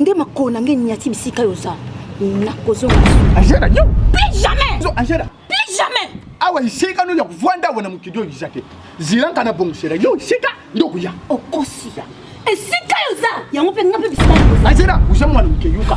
nde makolo na ngai nyati bisika yo oza nakozonga ajera yo plus jamais yo ajera plus jamais awa esika no ya kovanda awa na mokili oyo eza te zilanga na bongosela yo esika nde okoya okosi esika yo oza yango mpe nga mpe bisika ajera oza mwana moke yoka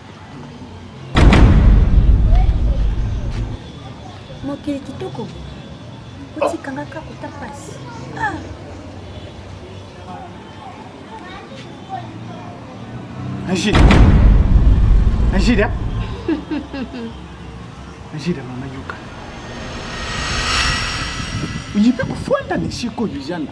mokili kitoko otikanga kaka kota mpasi ah. Angida Angida Angida mama yoka oyebi kofanda na esika oyo ezanga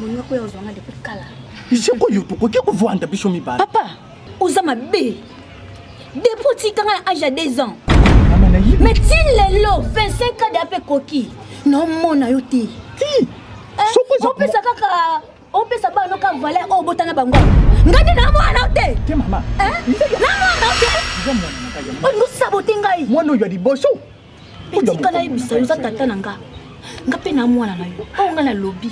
Moninga ko ya ozwa nga depuis kala. Je ko yo tokoki ko vanda biso mibala. Papa, oza mabe. Depuis otika nga na âge ya 2 ans. Mais ti lelo 25 ans de ape koki. Non mona yo te. Ti. Eh, Soko za. Opesa kaka opesa bana ka valeur oyo obotana bango ngai nde na mwana o te na mwana o te olingi osabote ngai mwana oyo ya liboso tika nayebisa yo oza tata na nga nga mpe na mwana na yo oyo nga nalobi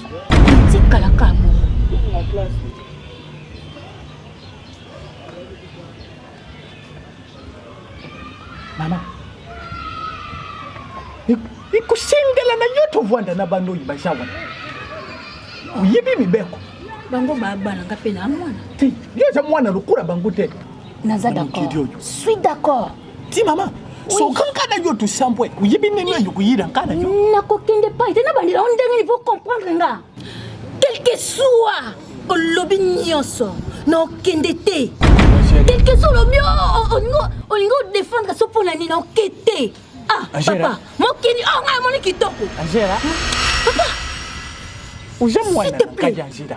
tikalaka yango mama ekosengela na yo tovanda na bando oyo baza wana oyebi mibeko bango babana nga mpe na mwana te yo oza mwana lokola bango te naza d'accord suis d'accord ti mama soka nka na yo tosampwe oyebi ndenge oyo koyira nka na yo nakokende pai te nabandela o ndenge nivo comprendre nga quelque soit olobi nyonso nakokende te quelque soit olobi olingi odefendre so mpo na nini naoke te ah papa mokili oyo oh, ngai amoni kitoko papa oza mwana kadi angela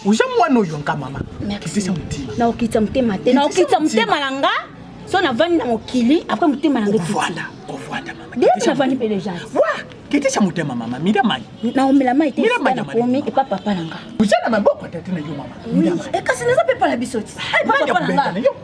oza mwana oyo nka mama kitisa motema naokitisa motema te naokitisa motema na nga so navandi na mokili apres motema na ngekovanda kovanda mamanavandi mpe deja kitisa motema mama mida mai naomela mai te nakomi epa papa na nga oza na maboko tata na yo mama ekasi naza mpe epa na biso ti epa papa na nga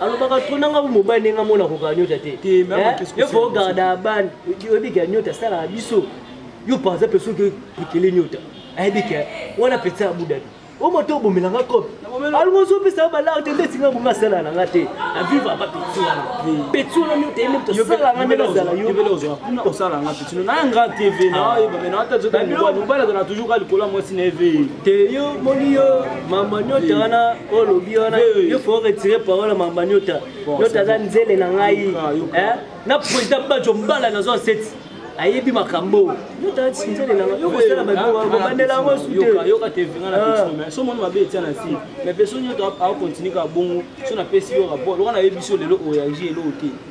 alobaka trop nanga bu mobali ndenge amona kokaa nyota te yo fo garda abani oyebika nyota asalaka biso yo par exemple soki ekele nyota ayebika wana peti ya budabi o moto obomelanga kope alingo ozopesa balare te ndeti nga bonga asala na nga te aviva ba peti wana peti wana nyota ye moto asalanga ndenge azala yo sino na nga tv na ah. oyeba me na ata zota mobali mobali azala toujours ka likolo ya mwasi na eve te yo moni yo mama nyota wana olobi wana yo faut retire parole ya mama nyota nyota aza nzele na ngai eh? na president bajo mbala nazwa seti ayebi makambo yotasinzele nanga yokosala babandela yango suteyoka te vinga na ah. petite so moni mabe etia na si mais mpe so nyoto akokontinue ka bongo so napesi yo rapport loka nayebisi yo lelo oyangi eloo te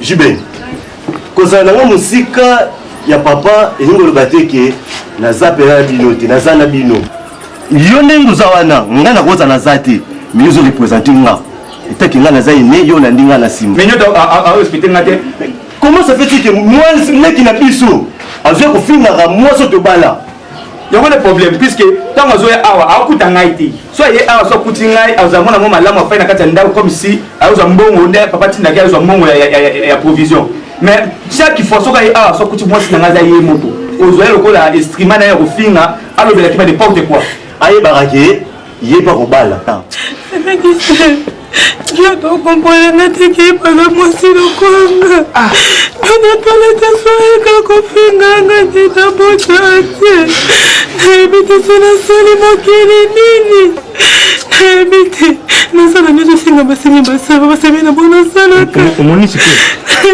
JB, kozala nango mosika ya papa elingi koloba te ke naza mpena na bino te naza na bino yo ndenge oza wana ngai nakoza naza te mais ozo represente nga etaki ngai naza ene yo olandi ngai na nsima mais nyoto arespecte nga te comment ça fait que mwasi leki na biso azwi kofingaka mwasi oyo tobala yango nde problème puisque ntango azoya awa akuta ngai te so aye awa so akuti ngai azala mwana mwa malamu afai na kati ya ndako comme si ayozwa mbongo nde papa tindaki ayozwa mbongo ya provision mais chaque fois soki aye awa so akuti mwasi na ngai aza ye moko ozwa ye lokola estrima na ye ya kofinga alobelaki ba n'importe quoi ayebaka ke Ye pa kobala. Yaka okompola nga te keyipaka mwasi lokwanga anatala te soyeka kofinga nga te nabota te nayebi te so nasali mokili nini nayebi te nasala nyonso osenga basengi basala basemi na bo nasalaka omonisi te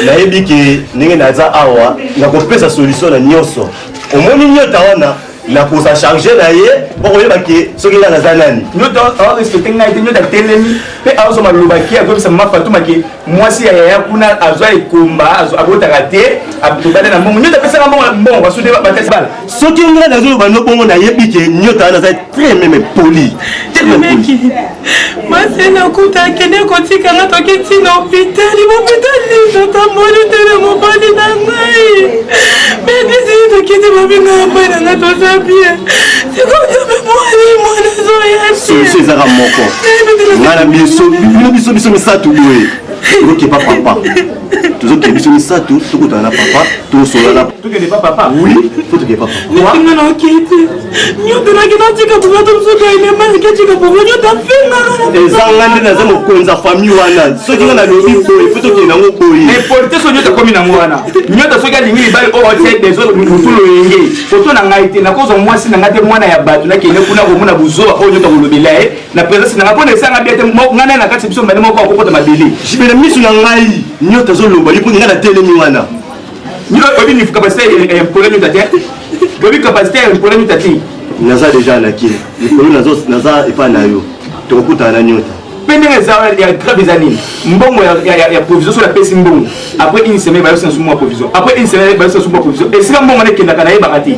nayebi ke ndenge naza awa nakopesa solution na nyonso omoni nyota wana na kosa charge na ye okoyeba ke soki nga naza nani nyoto aorespecte ngai te nyoto atelemi mpe aozo maloba ke akoyebisa mama fatuma ke mwasi ya yaya kuna azwa ekomba abotaka te tobanda na mbongo nyoto apesaka mbongo mbongo basude batasi bala soki ngai nazoloba no bongo nayebi ke nyoto wana aza très meme poli masena kuta akende kotika nga toki ntina hopitali hopitali nini otamboli te na mobali na ngai medisini tokiti babinga ya mbai na ngai toza bie sikozobe mwani mwana zoya solution ezaka moko nga na biso bino biso biso misato boye okepa papa tozokende biso misato tokutana na papa tosolana tokende pa papa oui fo tokende pa papainga na okei te nyotelaki natika bobato mosusu ainemaki atika bongo nyota fingaka ezanga nde naza mokonzi ya famille wana soki nga nalobi boye fo tokende nango boye epolite so nyota komi nango wana nyota soki alingi libali oyo atie desole motu loyenge koto na ngai te nakozwa mwasi na ngai te mwana ya bato nakende kuna komona buzoba oyo nyota kolobela ye na presence nanga mpona esanga bia te ngai naye na kati biso mbale moko akokota mabele jibe na miso na ngai nyota azoloba ye mpo ngai natelemi wana oyebi ni capacité ya mpona nyota te oyebi capacité ya mpona nyota te naza deja na kini likolo naza epai na yo tokokutana na nyota mpe ndenge eza ya grave eza nini mbongo ya provision soki apesi mbongo après une semaine bayosi na sumu ya provision après une semaine bayosi na sumu ya provision esika mbongo wana ekendaka nayebaka te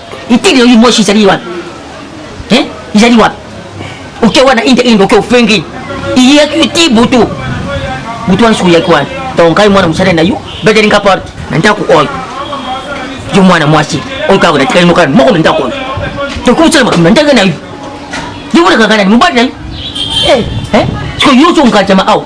Itili yo limoshi izali wapi? Hein? Izali wapi? Oke wana inte indo oke ofengi. Iyaki iti butu. Butu wana suya kwa. Donc kai mwana musale na yo, bedeli nga porte. Na ndako oyo. Yo mwana mwasi, oyo kako na tikali mokana moko na ndako oyo. Tokusala makambo na ndenge na yo. Yo mwana kakana ni mobali na yo. Eh, eh. Siko yo so ngajama awa.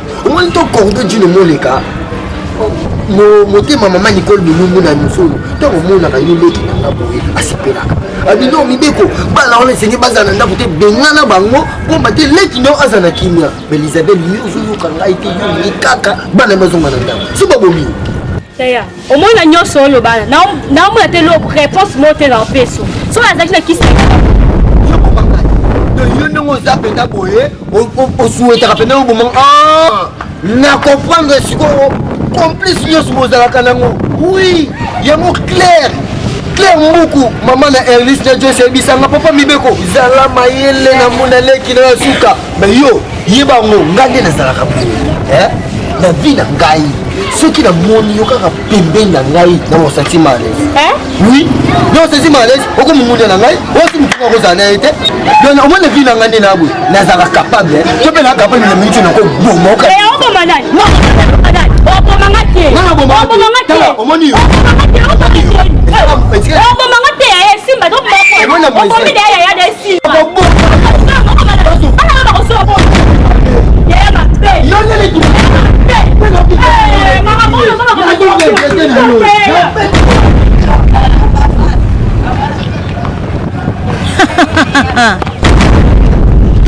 omoni to cordo jino moleka motema mama nicole bilungu na misolo ntango omonaka yo leki na nga boye asepelaka abino mibeko bana wana esengi bazala na ndako te bengana bango mpomba te leki nao aza na kimia belizabel yo ozoyoka ngai te yo ye kaka bana bazonga na ndako so babomi omoi na nyonso oyo bana naomona te lo réponse moko te na opeso soki azalaki na kisi yo ndenge oza mpenza boye osuetaka mpenza obomanga ah! na comprendre sikoyo complice nyonso bozalaka nango wi yango claire claire mbuku mama na erlis na jose ebisanga papa mibeko zala mayele na mona leki na ya suka Mais yo, yeba yango ngai nde nazalaka boye eh? na vie na ngai soki namoni yo kaka pembeni na ngai na osati malaise eh? oui na osati malaise okomongonia na ngai osi motu nakozala na ye te don omoi na vie na ngai nde na boye nazala capable to mpe na capable na minute nakoboma oka omoni yo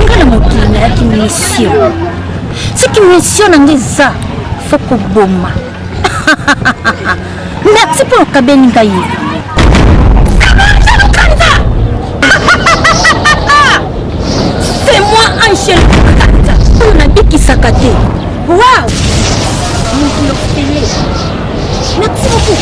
nga na mokili nayaki misio soki misio na nga eza fo koboma merci mpo okabeli ngai c'est moi angel kata oyo nabikisaka te wow moto yokele merci beaucoup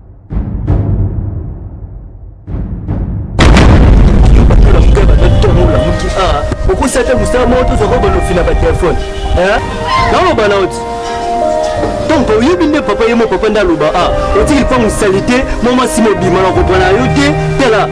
okusate mosala moko tozwaka balofi na batelefone naloba na oti donc oyebi nde papa ye mo papa nde aloba a ah, otiki lipango salite mwa mwasi mobima na kopona yo te tala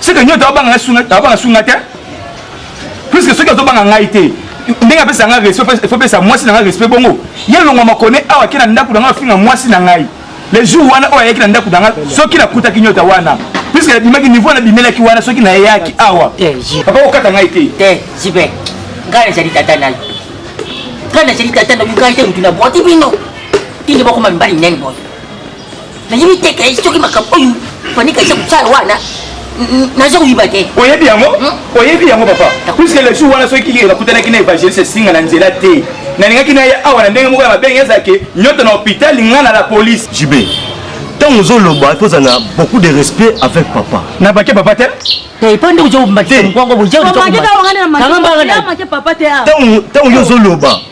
seke nyoto abanga ngai sunga abanga sunga te puisque soki azobanga ngai te ndenge apesa ngai respect faut pesa mwasi na ngai respect bongo ye longwa makone awa akei na ndako na ngai afinga mwasi na ngai le jour wana oyo ayaki na ndako na ngai soki nakutaki nyota wana puisque nabimaki niveau nabimelaki wana soki nayaki awa eh, papa okata ngai te te eh, jibe ngai nazali tata na yo ngai nazali tata na yo ngai te motu na bwati bino tinde bakoma mibali nene boye nayebi te kai soki makambo oyo fanika eza kosala wana naza koyiba te oyebi yango hmm? oyebi yango papa puiske le jour wana soki nakutanaki na évangéliste esinga na nzela te nalingaki na ye awa na ndenge moko ya mabengi ezalaki nyonso na hôpital nga na la police jibe ntango ozoloba il faut ozala na beaucoup de respect avec papa na bake papa te ntango yo ozoloba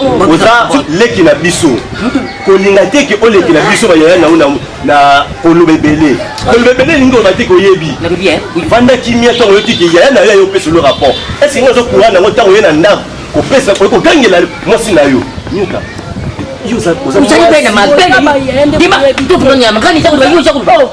oza leki na biso kolinga te ke oleki na biso bayaya na yo na koloba ebele koloba ebele elingi oloba te ke oyebi vanda kimia ntango oyoki ke yaya na yo ayo opesa olo rapport esi nga ozo courant nango ntango oye na ndako kopesa oye kogangela mwasi na yo nyoka ozali mpe na mabe ndima to tunonyama kani ntango oza koloba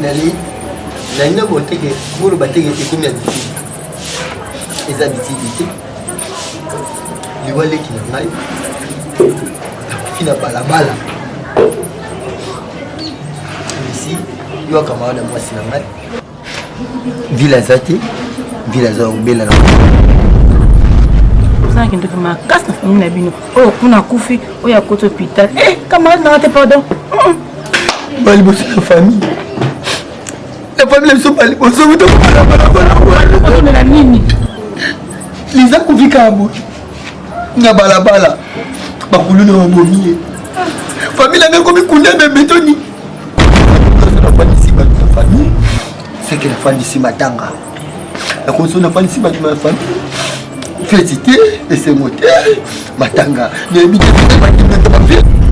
nali nalinga boteke bolo bateke te komi abitidi eza bitidi te liwa leki na ngai nakufi na balabala misi yo akamaka na mwasi na ngai vile aza te vile aza kobela na ozalaki ndoki makasi na famille na bino oyo kuna akufi oyo akoti hôpital eh, camarade nanga te pardon hmm. bali bosi na famille na famille na biso bali bosi otokomela nini liza kofikaka boye na balabala bakuluna babomi ye famille nanga ekomi kuna bebetoni nafandisi bato na famille seke nafandisi matanga nakoso nafandisi bato na famille feti te esengo te matanga nayebi te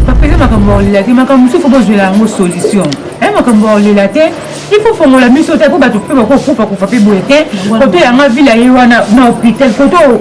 bapesa makambo ya kolela te makambo mosusu bozwela yango solution eh, makambo ya kolela te il faut fongola miso te mpo bato mpe bakokufa kufa mpe boye te koto yanga vile aye wana na hôpital koto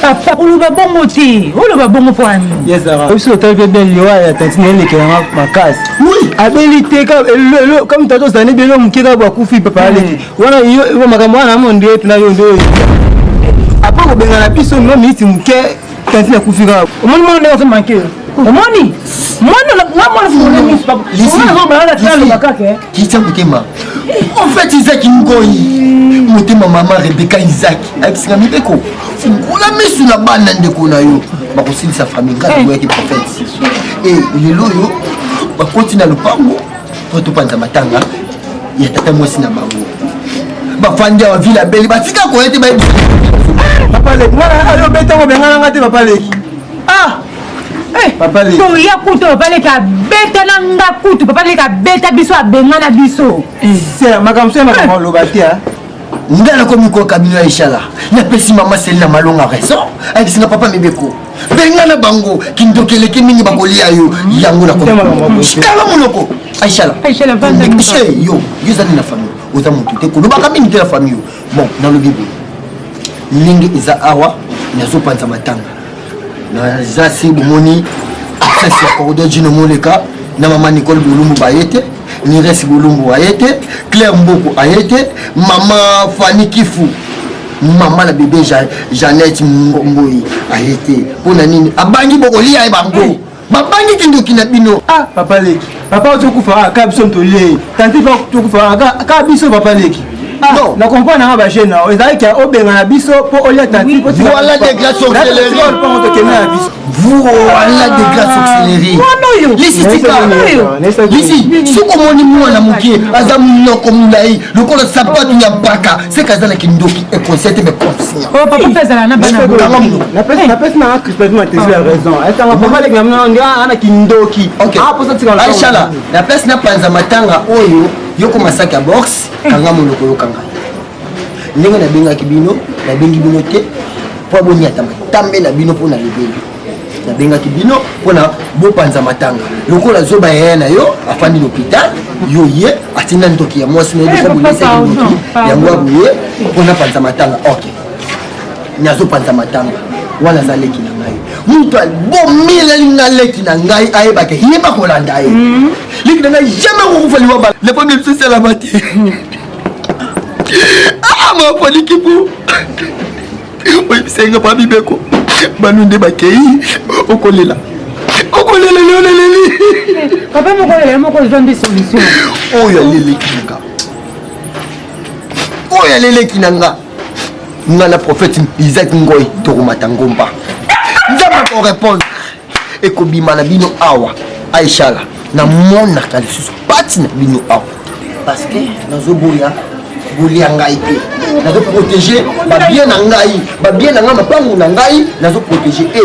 papa oloba bongo te oloba bongo mpo ani obiso otali mpe belle liwa ya tati na elekela nga makasi abeli te kama tata ozali belo moke kaka bakufi papa aleki mm. wana makambo wana amo nde tuna yo nde apa kobengana biso no miniti moke tati nakufi kaka omoni mwana ndenge azomanke omoni mwana nga mwana fungole miso papa nga azobala na talo bakake kitya motema profete izaki ngoi motema mama rebeka izaki ayebisaka mibeko fungola misu na bana ndeko na yo bakosilisa famille ngai naboyaki profete e lelo oyo bakoti na lopango po topanza matanga ya tata mwasi na bango bafandi awa vile abeli batika koya te bayebi papa leki ngai ayo betango bengananga te papa leki ah Eh, toya kutu papa leki abeta na nga kutu papa leki abeta biso abenga na biso eh. makambo soya makambo oloba te ah. nga nakomi koyoka bino ya eshala napesi mama seli na malonga raison ayebisi nga papa mibeko benga na bango kindoki eleki mingi bakolia yo yango nakotala monoko aishala yo yozali na famille oza motu te kolobaka mingi te na famille yo bon nalobi boye ndenge eza awa nazopanza matanga naza si bomoni absence ya cordo jino moleka na mama nicole bolumbu baye te niresi bolumbu aye te claire mboku aye te mama fani kifu mama na bebe jeannette mboyi aye te mpo na nini abangi bokolia ye bango babangi kindoki na bino ah papa leki papa ozokufa ah, kaka biso ntolei tanti pa tokufa ah, kaka biso papa leki ah, non na comprendre nanga bajeune nao ezalaki ya obengana biso mpo olia tanti voilà des glaces auxiliaires tokende na biso voilà des glaces auxiliaires lisi soki omoni mwana moke aza monoko molai lokola sapatu ya mpaka seka aza na kindoki ekosete me conscient oh papa mpe azala na bana napesi napesi na christophe matesi ya raison esanga papa leki na mino ndio ana kindoki aposa tika aishala na place na panza matanga oyo yoko masaki ya box kanga monoko yokanga ndenge nabengaki bino nabengi bino te mpo aboni atamba tambe na bino mpo na libeli nabengaki bino mpona bopanza matanga lokola zoba yaya na yo afandi lopital yo ye atinda ndoki ya mwasi na ye lokola bonesaki ndoki yango aboye mpona panza matanga ok nazopanza matanga wana aza leki na ngai moto abomeleli nga leki na ngai ayebaka yeba kolanda ye mhm. leki na ngai jamai akokufa liwa bala le premier biso esalama te ah mapoliki po oyebisa nga pa bibeko banu nde bakei okolela okolela leo naleli papa moko olela moko ozwa nde solution oyo aleleki na nga oyo aleleki na nga nga na prophète isaac ngoi tokomata ngomba nzambe akorepondre ekobima na bino awa aishala namonaka lisusu pati na bino awa parce que nazoboya bolia ngai te nazo protege babien na ngai babien na ngai mapangu na ngai nazo protege e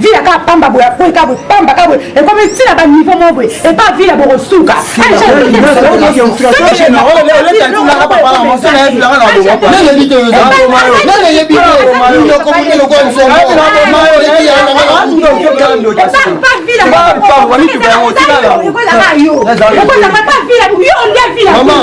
vila kaka pamba boye akwei kaka boye pamba kaka boye ekomi ntina baniveau moko boye epa vila bokosuka Mama.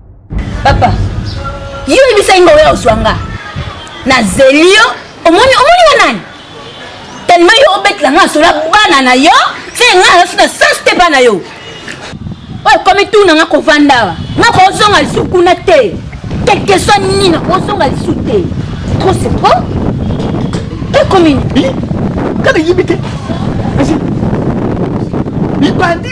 papa yo oyebisaki nga oya ozwa nga nazeli yo omoni omoni nga nani telema yo obetela nga sola bana na yo se nga nasu na sens te bana yo oyo ekomi tu na nga kovanda awa nga kozonga lisu kuna te quelque soit nini nakozonga lisu te trop c'est trop ekomi nga nayebi te libandi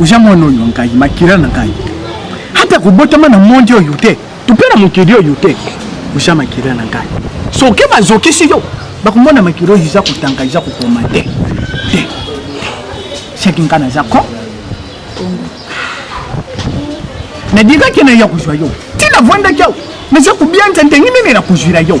oza mwana oyo ngai makila na ngai ata kobotama na mondi oyo te to mpe na mokili oyo te oza makila na ngai soki bazokisi yo bakomona makila oyo eza kotanga eza kokoma te te seki ngai naza ko nadikaki na ya kozwa yo ntina vwandaki awa naza kobianza ndenge nini na kozwila yo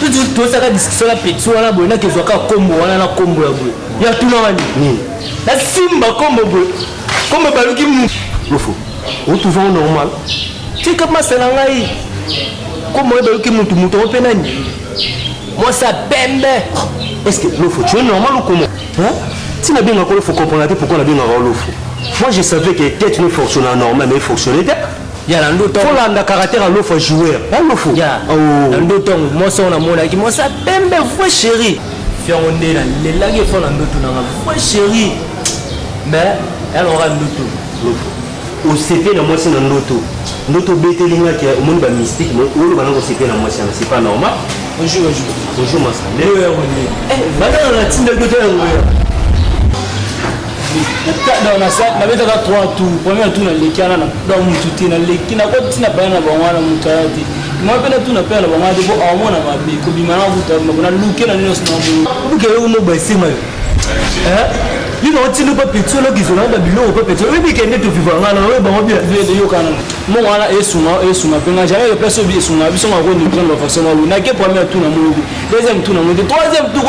Toujours tosaka discussion na petit wana boye nakezwa kaka kombo wana na kombo ya boye ya tuna wani hmm. nasimba kombo boye kombo ebaluki mu lofo otuva o normal tika masa na ngai kombo ebaluki mutu mutu yango mpe nani mwasi ya pembe est ce que lofo tu es normal ou comment si nabengaka olofo comprendra te pourquoi nabengaka olofo moi je savais que tete ne fonctionna normal mais fonctionnait te ya na ndo ntango kolanda caractère ya lofa joueur ya lofo ya oh. na ndo ntango mwasi yango namonaki mwasi ya pembe vrai chéri fiango nde nalelaki efo na ndoto nanga vrai chéri mais yalongaka ndoto lofo osepe na mwasi na ndoto ndoto obeteli nga ke omoni ba mystique mais oloba nanga osepe na mwasi yango c'est pas normal bonjour bonjour bonjour masande oyo yango nde eh, bana na natindaki otayango ya donc nasali nabetaka 3 tour premier tour naleki wana nakuda motu te naleki nakoti na bana na bango wana motu aya te moi mpe natuna mpe na bango wana te mpo aomona mabe kobima na kuta mabona luke na nyonso na buke yo moba esema yo bino otindi mpe peti olokizela na biloko mpe peti oyebi kende toviva ngai na oyo bango bia vede yokana mongo wana esunga esunga mpe ngai jamais place obi esunga biso ngako ndukiza na bafaso malu nake premier tour na molobi deuxième tour na molobi troisième tour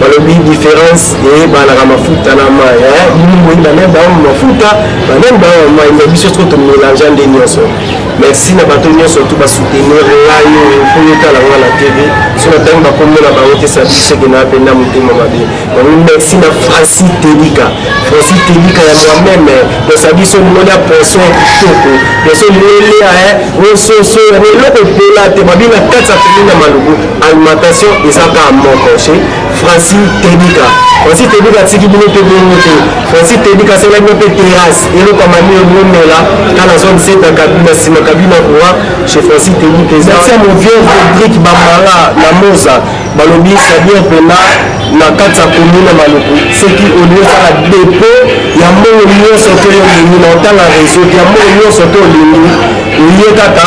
balobi différence eyebanaka mafuta na mai bino boyinda nde bango mafuta banani bango mai me biso soko tomelangea nde nyonso merci na bato nyonso tu basoutenir ngai oyo mpo yotala ngai na tv so natangi bakomona bango te satiseke na mpe na motema mabe bango merci na franci telika franci telika ya moi-meme posa biso mona poso ya kitoko poso moelia oyo soso eloko epola te babina kati ya pemina malubu alimentation eza kaka moko chez franci tebika franci tebika atiki bino mpe bongo te franci tebika asala bino mpe terrasse eloko ya mamio bomela ka na 67 na kabina nsima kabina kowa chez franci tebika eza tia movien rodrik bamala na moza balobi sabien mpena na kati ya komune ya maluku soki olingi osala depo ya mbongo nyonso to yo olingi na otanga réseau ya mbongo nyonso to olingi oye kaka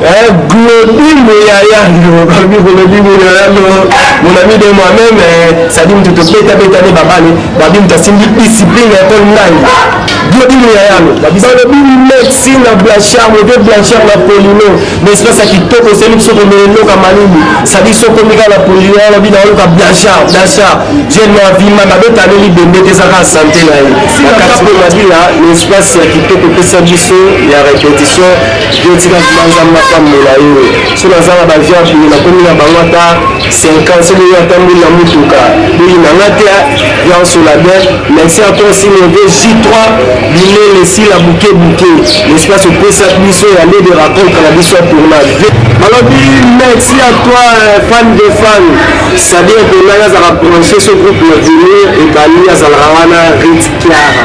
Eh, Glodimo yaya lobi Glodimo yaya lo mon ami de moi-même eh, sadi moto tobeta beta nde babale babi moto asimbi discipline ya ekole ngai Glodimo yaya lo balobi merci na blanchard mode blanchard na polino na espace ya kitoko oseli biso komela eloka malili sadi so komi kaka na polino alobi na oloka blanchard blanchard jeune na vima nabetaleli bende te ezaka sante na ye na kati mpe mabila na espace ya kitoko pesa biso ya repetition yo tika vrima nzambe apambola yo so naza na bavi ya boye nakomi na bango ata 50 soki oyo atamboli na motuka boyi na nga te viance olabin merci à toi aussi mon vieux j3 bilele sila buke buke l'espace opesa biso ya lede racontre na biso ya tournage balobi merci à toi euh, fan de fan sadir tonai azalaka branche ce groupe na venir ebali azalaka wana rit kiara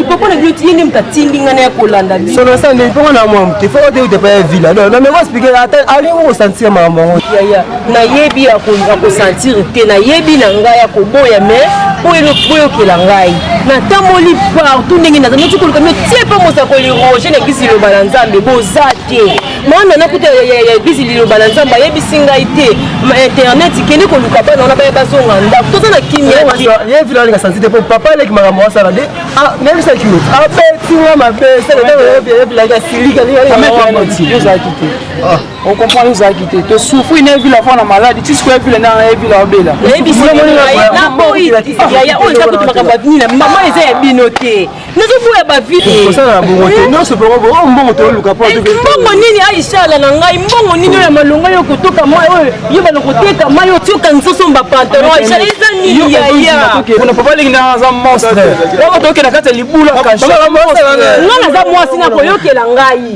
ipoko na bino tiye nde moto atindi ngai naya kolanda bino solo sande ipoko na mwa moke fo ote utepa ya vila do na meko explike ata alingi kokosantire makambo yango yaya nayebi ya kosantire te nayebi na ngai ya koboya mais boyokela ngai natamboli partout ndenge naza noti koluka mio tie mpe mosakoli roger na kisi loba na nzambe boza te mwana nakuta ya eglise liloba na nzambe ayebisi ngai te ma internet kende koluka bana wana baya bazonga ndako toza na kimiayevilaleka sansi te mpo papa aleki makambo asala de nayebisaki yo abeti nga mabe seleyevilaka silika ozalaki te okomprendre ozalaki te tosufri na evila mpo na maladi ti sikoyo evila ndanga na evila obela nayebisaboyi yaya oyo eza kutu makambo ya bini na mama eza ya bino te nazoboya bavileosala bongo te eh? nyonso mpengo bongo oh, mbongo toluka mpo eh, mbongo nini aishala na ngai mbongo nini oyo ya malonga yo kotoka mai oyo yo bana koteka mai otioka nsoso mba pantalon aishala eza nini yayapona papa lingi na aza monstre oyo tookenda kati ya libula nga naza mwasi nakoyokela ngai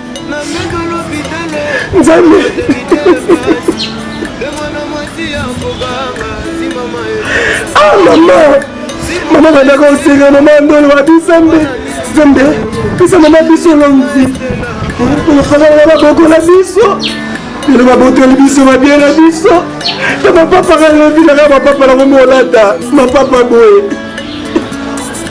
nzambe ah mama mama bandaka osenga mama ndolo wapi nzambe nzambe pesa mama biso longi olofalaa babokola biso bino babotoli biso babie na biso na bapapa kalobi naka bapapa nakomi olata mapapa boye